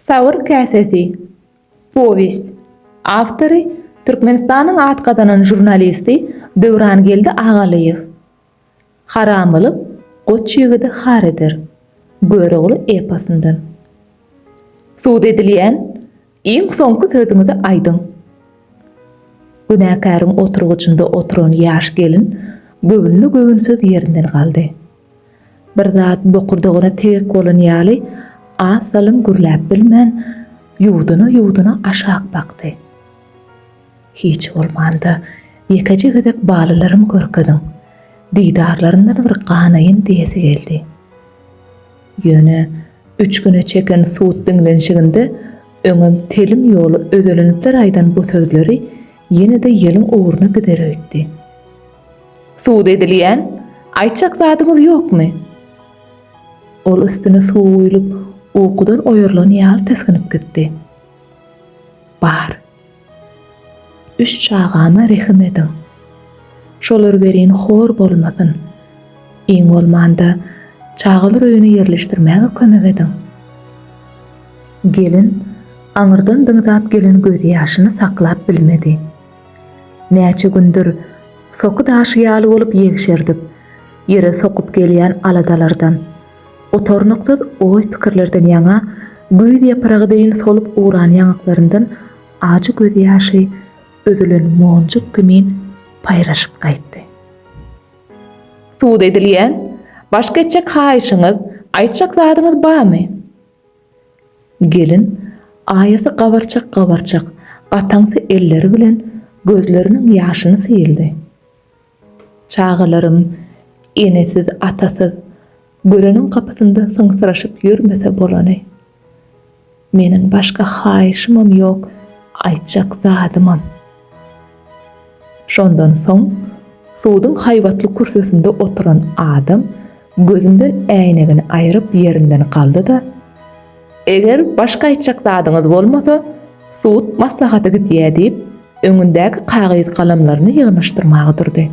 Sabyr käsesi. Powest. Awtory, Türkmenistanyň at gazanan žurnalisti Döwrangeldi Agalyýew. Haramylyk goç ýigidi har eder. Görogly eposyndan. Sud edilýän, iň soňky sözüňizi aýdyň. Günäkäriň oturgyjynda oturan ýaş gelin göwünli-göwünsiz ýerinden galdy. Bir zat bokurdagyna tegek bolan ýaly, az salym gürläp bilmän, ýuwduna-ýuwduna aşak bakdy. Hiç bolmanda, ýekeje gezek balalarym görkeziň, didarlaryndan bir ganaýyn diýesi geldi. Ýöne üç güne çeken sud diňlenişiginde öňem telim ýoly özelenipdir aýdan bu sözleri ýene-de ýeliň ugruna gider öýtdi. Sud edilýän, aýtjak zadyňyz ýokmy? Ol üstüne suw guýlup, ukudan oýarlan ýaly tisginip gitdi. Bar. Üç çagama rehim ediň. Şolar welin hor bolmasyn. Iň bolmanda, çagalar öýüne ýerleşdirmäge kömek ediň. Gelin aňyrdan dynzap gelen gözýaşyny saklap bilmedi. Näçe gündür, soky daşy ýaly bolup ýegşerdip, ýere sokup gelýän aladalardan, gutarnyksyz oý-pikirlerden ýaňa güýz ýapragy deýin solup ugran ýaňaklaryndan ajy gözýaşy üzülen monjuk kimin paýraşyp gaýtdy. Sud edilýän, başga etjek haýyşyňyz, aýtjak zadyňyz barmy? Gelin aýasy gabarçak-gabarçak gataňsy elleri bilen gözleriniň ýaşyny syýyldy. Çagalarym enesiz, atasyz, göreniň gapysynda syňsyraşyp ýörmese bolany. Meniň başga haýyşymam ýok, aýtjak zadymam. Şondan soň suduň haýbatly kürsüsinde oturan adam gözünden äýnegini aýryp ýerinden galdy-da, Eger başga aýtjak zadyňyz bolmasa, sud maslahata gidýär diýip, öňündäki kagyz-galamlaryny ýygnaşdyrmaga durdy.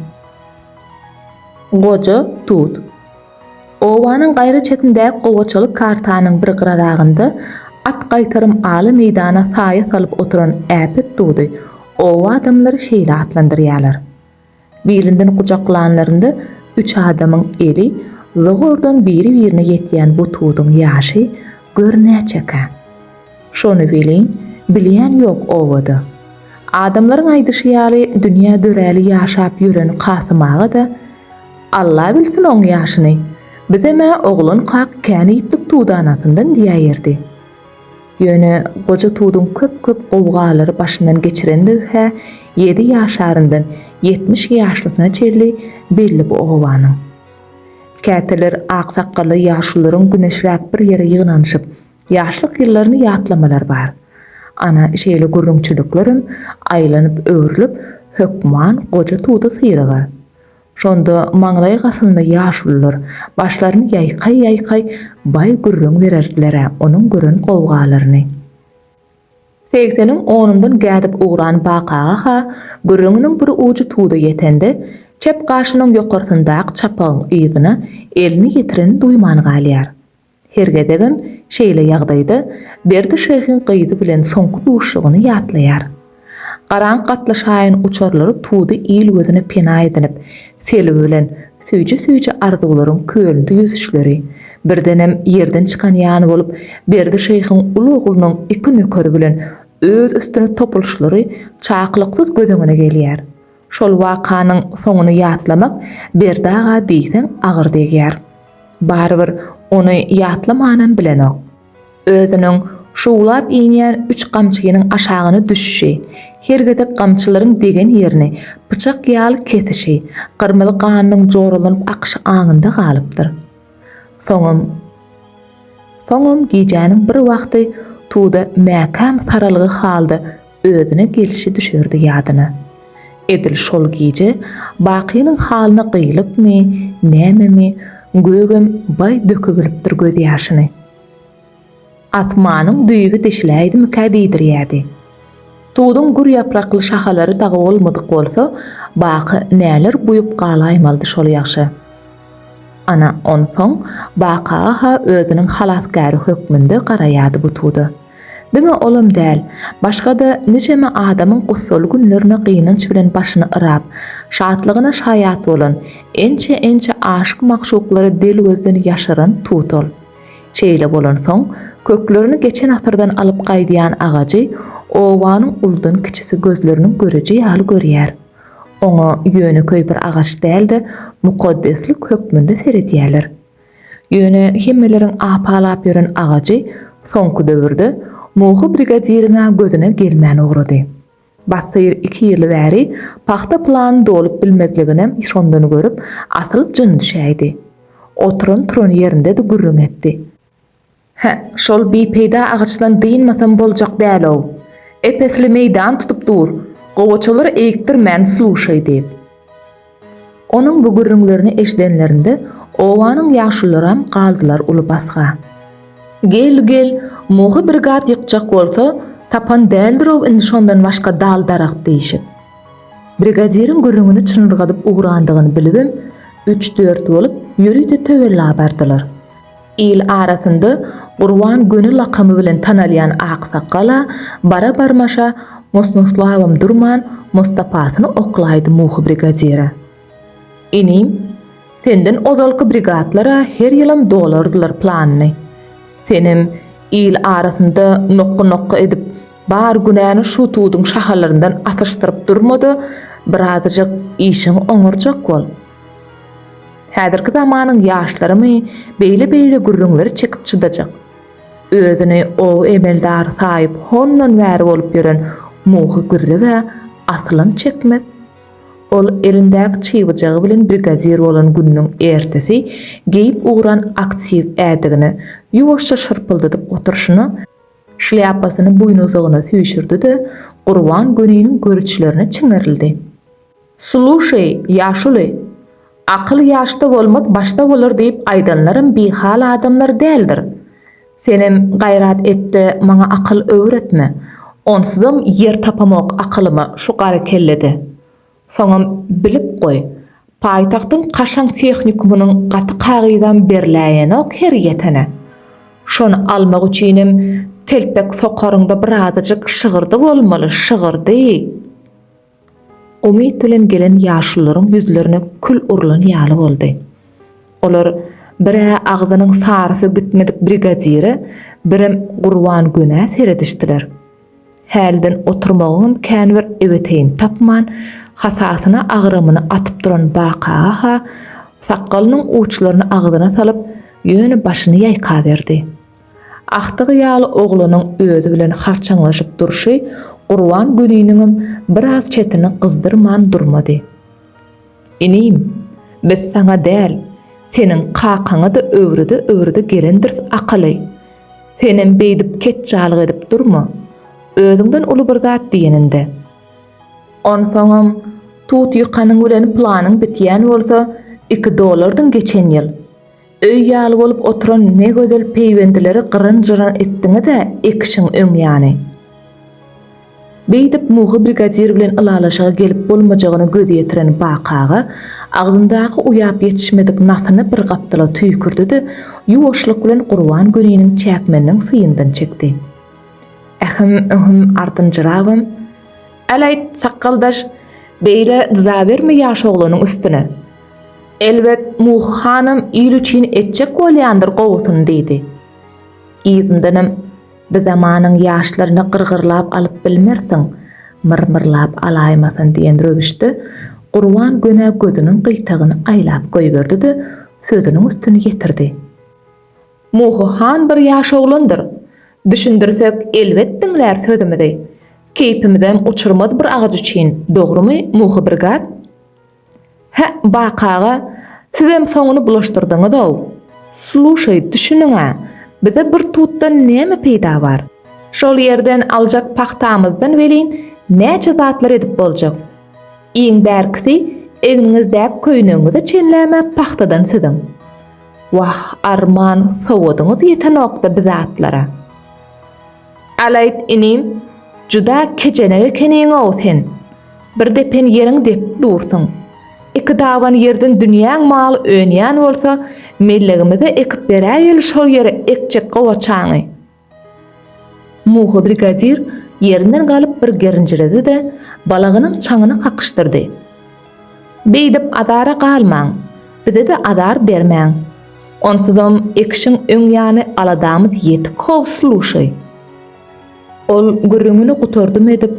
Goja tut. Obanyň gaýry çetindäki gowaçaly kartanyň bir gyraragynda at gaýtarym aly meýdana saýa salyp oturan äpet dudy oba adamlary şeýle atlandyrýarlar. Bilinden gujaklanlarynda üç adamyň eli zogurdan biri-birine ýetýän bu tuduň ýaşy gör näçekä? Şony welin, bilýän ýok obada. Adamlaryň aýdyşy ýaly, dünýä döräli ýaşap ýören Kasym aga-da, Alla bilsin oň ýaşyny, bizem-ä oglankak kän iýipdik tudanasyndan diýäýerdi. Ýöne goja tuduň köp-köp gowgalary başyndan geçirendigi-hä ýedi ýaşaryndan ýetmiş ýaşlysyna çenli belli bu obanyň. Käteler aksakgally ýaşulularyň güneşräk bir ýere ýygnanyşyp, Ýaşlyk ýyllaryny ýatlamalar bar. Ana, şeýle gürrüňçiliklerem aýlanyp-öwrülip hökman goja tuda syrygar. Şonda maňlaý gasynda ýaşulular başlaryny ýaýkaý-ýaýkaý baý gürrüň bererdiler-ä onuň gören gowgalaryny. Segseniň onundan gädip ugran bakaga-ha gürrüňiniň bir ujy tuda ýetende, çep gaşynyň ýokarsyndaky çapagyň yzyna elini ýetiren duýman galýar. Her gezegem şeýle ýagdaýda Berdi şyhyň gyzy bilen soňky duşlugyny ýatlaýar. Garaň gatly şaýyň uçurlary tudy il gözüne pena edinip, selbi bilen süýji-süýji arzuwlaryň kölünde ýüzüşleri, birdenem ýerden çykan ýaly bolup, Berdi şyhyň uly oglunyň iki nökeri bilen öz üstüne topulyşlary çaklyksyz göz öňüne gelýär. Şol wakanyň soňuny ýatlamak Berdi aga diýseň agyr degýär. Barybir ony ýatlamanam bilenok. Özüniň şuwlap inýän üç gamçynyň aşagyna düşüşi, her gezek gamçylaryň degen ýerini pyçak ýaly kesişi, gyrmyzy ganynyň joralanyp akyşy aňynda galypdyr. Soňam Soňam gijäniň bir wagty Tuda mäkäm saralgy halda özüne gelşi düşerdi ýadyna. Edil şol gije Bakynyň halyna gyýlykmy, nämemi, Gögem baý dökübilipdir gözýaşyny. Asmanyň düýbi deşiläýdimikä diýdirýärdi. Tuduň gür ýaprakly şahalary dagy bolmadyk bolsa, Baky näler buýup galaýmalydy şol ýagşa. Ana, onsoň Baky-ha özüniň halasgäri hökmünde garaýardy bu tuda. Diňe olam däl, başga-da niçeme adamyň gussaly günlerine gynanç bilen başyny yrap, şatlygyna şaýat bolan, ençe-ençe aşyk-magşuklary del gözden ýaşyran tut ol. Şeýle bolansoň, köklerini geçen asyrdan alyp gaýdýan agajy obanyň uludan kiçisi gözleriniň göreji ýaly görýär. Oňa ýönekeý bir agaç däl-de, mukaddeslik hökmünde seredýärler. Ýöne hemmeleriň apalap ýören agajy soňky döwürde Muhy brigadiriň-ä gözüne gelmän ugrady. Batyr iki ýyl bäri pagta plany dolup bilmezliginem şondan görüp, asyl jyn düşäýdi. Oturan-turan ýerinde-de gürrüň etdi. Hä, şol bipeýda agaçdan dynmasam boljak däl-ow. Ep-esli meýdan tutup dur, gowaçalar eýikdirmän sluşaý diýip. Onuň bu gürrüňlerini eşidenlerinde obanyň ýaşulularam galdylar uly basga. Gel, gel, mohy bir zat ýykjak bolsa, tapan däldir-ow indi şondan başga dal-daragt diýşip. Brigadiriň gürrüňini çynyrgadyp ugrandygyny bilibem, üç-dört bolup, ýörite töwerlä bardylar. Il arasynda Gurban göni lakamy bilen tanalýan aksakgal-a bara-barmaşa Mosnoslawam durman Mostapasyny oklaýdy Muhy brigadire. Inim, senden ozalky brigadlar-a her ýylam dolardylar planyny. Senem il arasynda nokga-nokga edip, bar günäni şu tuduň şahalaryndan asyşdyryp durma-da, birazajyk işiňi oňarjak bol. Häzirki zamanyň ýaşlarymy beýle-beýle gürrüňleri çekip çydajak? Özüni oba emeldary saýyp hondan bäri bolup ýören Muhy Gürrüg-ä asylam çekmez. Ol elindäki çybajygy bilen brigadir bolan gününiň ertesi geýip ugran aktiw ädigini ýuwaşja şyrpyldadyp oturyşyna, şlýapasyny buýnuzygyna süýşürdi-de, Gurban göniniň görüçlerine çiňerildi. Sluşeý, ýaşuly, akyl ýaşda bolmaz, başda bolar diýip aýdanlaram bihal adamlar däldir. Senem gaýrat et-de, maňa akyl öwretme. Onsuzam ýer tapamok akylyma şu gara kellede. Soňam bilip goý, paýtagtyň kaşaň tehnikumynyň gaty kagyzam berläýenok her ýetene. Şony almak üçinem telpek sokaryňda birazajyk şygyrdy bolmaly, şygyrdy. Umyt bilen gelen ýaşulularyň ýüzlerine kül urlan ýaly boldy. Olar bir-ä agzynyň sarysy gitmedik brigadire, birem Gurban Gönä seredişdiler. Hälden oturmagyňam känbir ebeteýini tapman, hasasyna agramyny atyp duran Bak aga-ha sakgalynyň uçlaryny agzyna salyp, ýöne başyny ýaýkaberdi. Agtygy ýaly oglunyň özi bilen harçaňlaşyp durşy Gurban güniniňem biraz çetini gyzdyrman durmady. Inim, biz saňa däl, seniň kakaňa-da öwrüde-öwrüde gelendiris akaly. Senem beýdip ketjalyk edip durma. Özüňden uly bir zat diýeninde. Onsoňam, tut ýykanyň bilen planyň bitýän bolsa, iki dollardyň geçen ýyl. Öý ýaly bolup oturan ne gözel peýwendileri gyryn-jyryn etdiňiz-ä, ekişiň öň ýany. Beýdip Muhy brigadir bilen ylalaşyga gelip bolmajagyna göz ýetiren Baky aga agzyndaky uýap ýetişmedik nasyny bir gapdala tüýkürdi-de, ýuwaşlyk bilen Gurban göniniň çäkmeniniň syýyndan çekdi. Ähim, ühüm, ardynjyrabam. Äl aýt, sakgaldaş, beýle dyzaberme ýaş oglanyň üstüne. Elbet, Muhy hanam il üçin etjek bolýandyr gowusyny diýdi. Yzyndanam, Bi zamanyň ýaşlaryny gyrgyrlap alyp bilmersiň, myrmyrlap alaýmasyn diýen röwüşde Gurban göni gözüniň gyýtagyny aýlap goýberdi-de, sözüniň üstüni ýetirdi. Muhy han bir ýaş oglandyr. Düşündirsek, elbet diňlär sözümizi. Keýpimizem uçurmaz bir agaç üçin, dogrumy, Muhy brigat? Hä, Baky aga, sizem soňuny bulaşdyrdyňyz-ow. Sluşaý, düşüniň-ä, bize bir tutdan näme peýda bar? Şol ýerden aljak pagtamyzdan welin näçe zatlar edip boljak? Iň bärkisi egniňizdäki köýnegiňize çenlä-m pagtadan siziň. Wah, arman, sowadyňyz ýetenok-da bi zatlara. Alaýt inim, juda kejenek ekeniň-ow sen. Bir depen ýeriň depip dursuň. Iki daban ýerden dünýäň maly önýän bolsa, mellegimize ekip beräýeli şol ýere ekjek gowaçaňy. Muhy brigadir ýerinden galyp bir gerinjiredi-de, balagynyň çaňyny kakyşdyrdy. Beýdip azara galmaň, bize-de azar bermäň. Onsuzam ekişiň öň ýany aladamyz ýetik howsy luşy. Ol gürrüňini gutardym edip,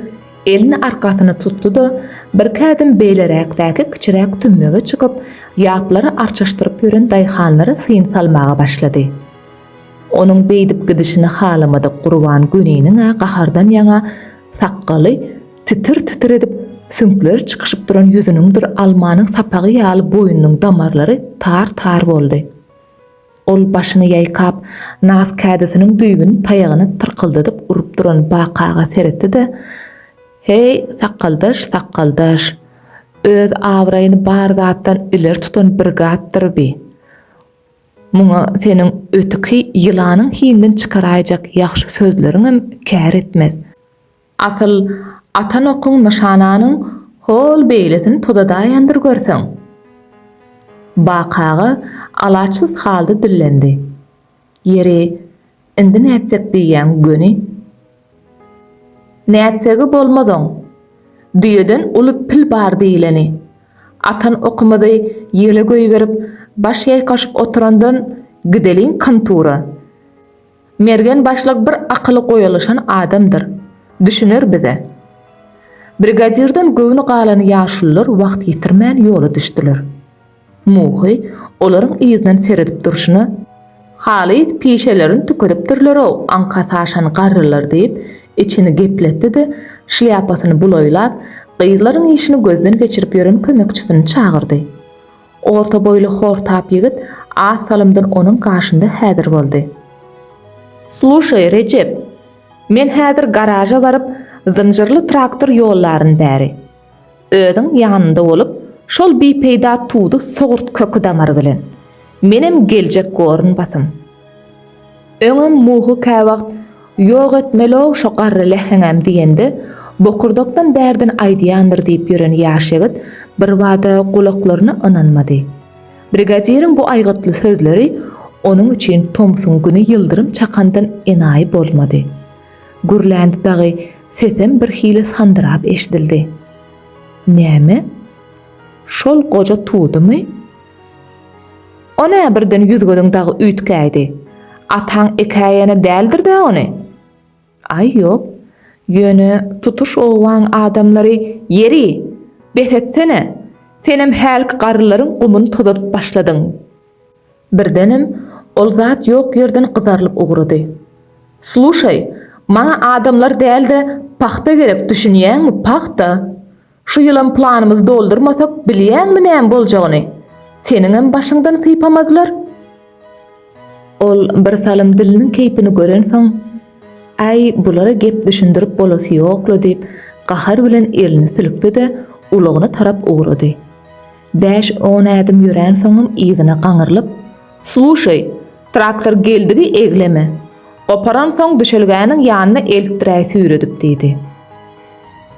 elini arkasyna tutdy-da, birki ädim beýleräkdäki kiçiräk tümmege çykyp, ýaplary arçaşdyryp ýören daýhanlara syn salmaga başlady. Onuň beýdip gidişini halamadyk Gurban Göniniň-ä gahardan ýaňa sakgaly Titir-titir edip, süňkleri çykyşyp duran ýüzüniňdir almanyň sapagy ýaly boýnunyň damarlary tar-tar boldy. Ol başyny ýaýkap, nas kädisiniň düýbüni taýagyna tyrkyldadyp urup duran bakaga seretdi-de, Heý, sakgaldaş, sakgaldaş! Öz abraýyny bar zatdan ileri tutan bir zatdyr bi. Muňa seniň ötüki ýylanyň hiňden çykaraýjak ýagşy sözleriňem kär etmez. Asyl, atan okuň nyşananyň hol beýlesini tozadaýandyr görseň? Bak aga alaçsyz halda dillendi. Ýeri, indi nätsek diýýäň göni? Nätsegi bolmaz oň. Düýeden uly pil bar diýleni. Atan okumyzy ýele goýberip, baş ýaýkaşyp oturandan gideliň kontura. Mergen başlyk bir akyly goýalyşan adamdyr. Düşüner bize. Brigadirden göwni galan ýaşulylar wagt ýitirmän ýola düşdüler. Muhy olaryň yzyndan seredip durşuna, Halys pişelerini tükedipdirler-ow aňka saşan garrylar diýip, içini gepletdi-de, şlýapasyny bulaýlap, gyzlaryň işini gözden geçirip ýören kömekçisini çagyrdy. Orta boýly hortap ýigit az salymdan onuň gaşynda häzir boldy. Sluşaý, Rejep, men häzir garaža baryp, zynjyrly traktor ýollaryn bäri. Özüň ýanynda bolup, şol bipeýda tudy sogurt köki-damary bilen. Menem geljek gorun basym. Öňem Muhy käwagt Ýok etmeli-ow şo garry läheňem diýende, bokurdakdan bärden aýdýandyr diýip ýören ýaş ýigit birbada gulaklaryna ynanmady. Brigadiriň bu aýgytly sözleri onuň üçin tomsuň güni ýyldyrym çakandan enaýy bolmady. Gürländi dagy, sesem birhili sandyrap eşidildi. Näme? Şol goja tudumy? On-ä birden ýüz-gözüň dagy üýtgäýdi. Ataň ekäýene däldir-dä ony? Aý, ýok. Ýöne tutuş obaň adamlary, Ýeri, bes etsene! Senem hälki garrylaryň gumuny tozadyp başladyň. Birdenem ol zat ýok ýerden gyzarylyp ugrady. Sluşaý, maňa adamlar däl-de, pagta gerek, düşünýäňmi, pagta! Şu ýylam planymyzy doldurmasak, bilýäňmi näme boljagyny? Seniňem başyňdan sypamazlar. Ol birsalym diliniň keýpini görensoň, Äý, bulara gep düşündirip bolasy ýok-la diýip, gahar bilen elini silkdi-de, ulagyna tarap ugrady. Bäş-on ädim ýöränsoňam yzyna gaňyrlyp, Sluşeý, traktor geldigi egleme. Goparansoň düşelgäniň ýanyna eltdiräý süýredip, diýdi.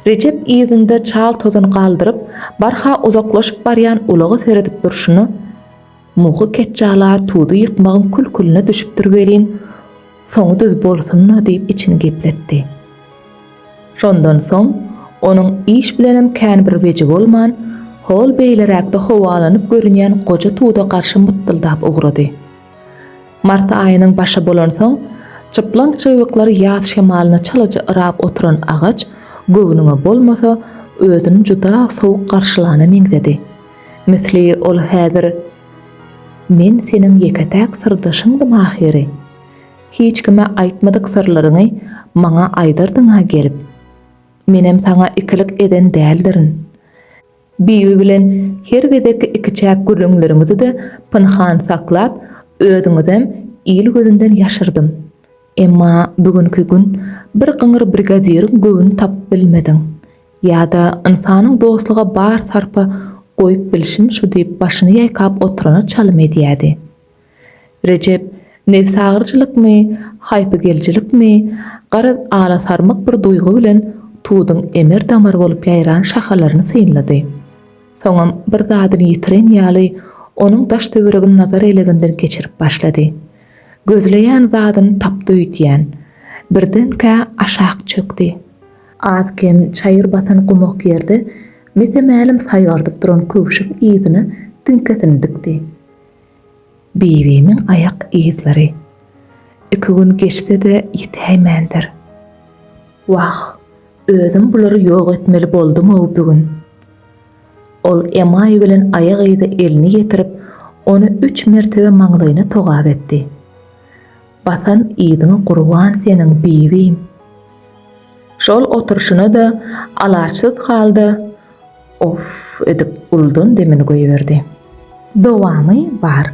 Rejep yzynda çal tozan galdyryp, barha uzaklaşyp barýan ulaga seredip durşuna, Muhy ketjala tudy ýykmagyň kül-külüne düşüpdir welin, Soňy düz bolsun-la diýip içini gepletdi. Şondan soň onuň iş bilenem kän bir weji bolman, hol beýleräkde howalanyp görünýän goja tuda garşy mytdyldap ugrady. Mart aýynyň başy bolansoň, çyplaň çybyklary ýaz şemalyna çalaja yrap oturan agaç göwnüňe bolmasa, özüni juda sowuk garşylana meňzedi. Misli ol häzir. Men seniň ýeke-täk syrdaşyňdym ahyry. Hiç kime aýtmadyk syrlaryňy maňa aýdardyň-a gelip. Menem saňa ikilik eden däldirin. Bibi bilen her gezek ikiçäk gürrüňlerimizi-de pynhan saklap, özüňizem il gözünden ýaşyrdym. Emma bu günki gün bir gyňyr brigadiriň göwün tapyp bilmediň. Ýa-da ynsanyň dostluga bar sarpa goýup bilşim şu diýip başyny ýaýkap oturana çalym edýädi. Rejep nebsagyryjylykmy, haýpygelijilikmi, garaz alasarmyk bir duýgy bilen tuduň emir-damar bolup ýaýran şahalaryny synlady. Soňam bir zadyny ýitiren ýaly onuň daş-töweregini nazar eleginden geçirip başlady. Gözleýän zadyny tapdy öýdýän. Birdenkä aşak çökdi. Az-kem çaýyr basan gumak ýerde mese-mälim saýgardyp duran köwşük yzyna tiňkesini dikdi. Bibimiň aýak yzlary. Iki gün geçse-de ýitäýmändir. Wah, özüm bulary ýok etmeli boldum-ow bu gün. Ol emaý bilen aýak yza elini ýetirip, ony üç mertebe maňlaýyna togap etdi. Basan yzyňa gurban seniň Bibim. Şol oturyşyna-da alaçsyz halda Off edip uldan demini goýberdi. Dowamy bar.